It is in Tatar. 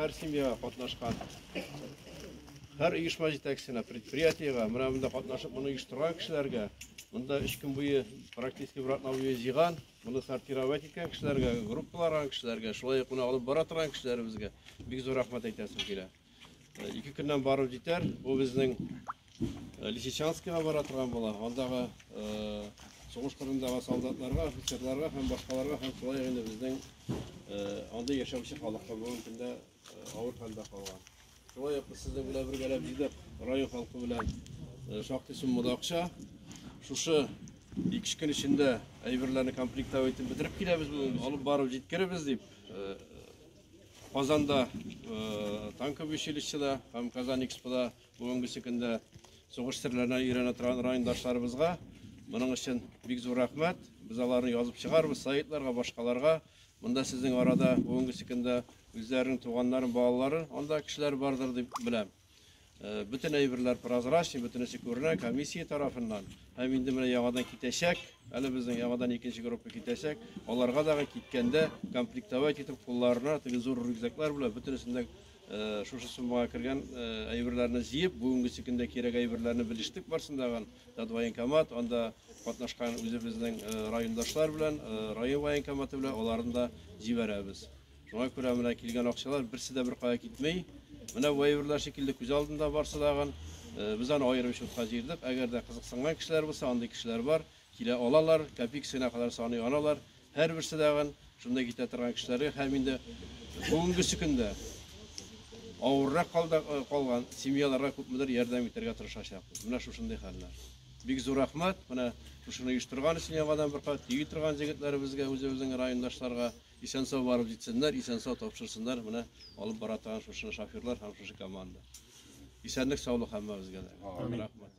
һәр семьяга катнашкан һәр оешма җитәкчесенә предприятиегә менә монда катнашып моны оештырган кешеләргә монда өч көн буе Практически братна уе җыйган, моны сортировать иткән кешеләргә, группаларга кешеләргә, шулай ук моны алып бара торган кешеләребезгә бик зур рәхмәт әйтәсем килә. Э, ике көннән барып җитәр, бу безнең э, Лисичанскига бара торган була, андагы э, сугыш кырындагы солдатларга, офицерларга һәм башкаларга һәм шулай инде безнең анда яшәүче халыкка бүгенге көндә авыр хәлдә калган. Шулай ук сезнең белән бергәләп җыйдык район халкы белән шактый суммада акча. Шушы ике көн эчендә әйберләрне комплектовать итеп бетереп киләбез, алып барып җиткеребез дип Казанда танковый училищеда һәм Казан Экспода бүгенгесе көндә сугыш серләренә өйрәнә торган райондашларыбызга моның өчен бик зур рәхмәт. Без аларны язып чыгарбыз сайтьларга, башкаларга. Монда сезнең арада бүгенге секундда үзләренең туганнарын, балалары, анда кешеләр бардыр дип беләм. Э, бөтен әйберләр прозрачный, бөтенесе күренә комиссия тарафыннан. Һәм инде менә яңадан китәчәк, әле безнең яңадан икенче группа китәчәк. Аларга дагы киткәндә комплектовать итеп кулларына теге зур рюкзаклар белән бөтенесендә Шушы суммага кергән әйберләрне җыеп, бүгенге сөкендә кирәк әйберләрне белештек барсындаган тат военкомат, анда катнашкан үзебезнең райондашлар белән, район военкоматы белән аларны да җибәрәбез. Шуңа күрә менә килгән акчалар берсе дә беркая китми. Менә бу әйберләр шикелле күз алдында барсындаган. Без аны аерым счетка җыердык. Әгәр дә кызыксынган кешеләр булса, андый кешеләр бар. Килә алалар, копейкасына кадәр саный алалар. Һәрберсе тагын шунда китә торган кешеләргә һәм инде бүгенгесе көндә авыррак калда, калган семьяларга күпмедер ярдәм итәргә тырышачакбыз. Менә шушындый хәлләр. Бик зур рәхмәт, менә шушыны оештырган өчен яңадан бер кат, тиги торган җегетләребезгә, үзебезнең райондашларга. Исән-сау барып җитсеннәр, исән-сау тапшырсыннар менә алып бара торган шушы шоферлар һәм шушы команда. Исәнлек, саулык һәммәбезгә дә. Рәхмәт.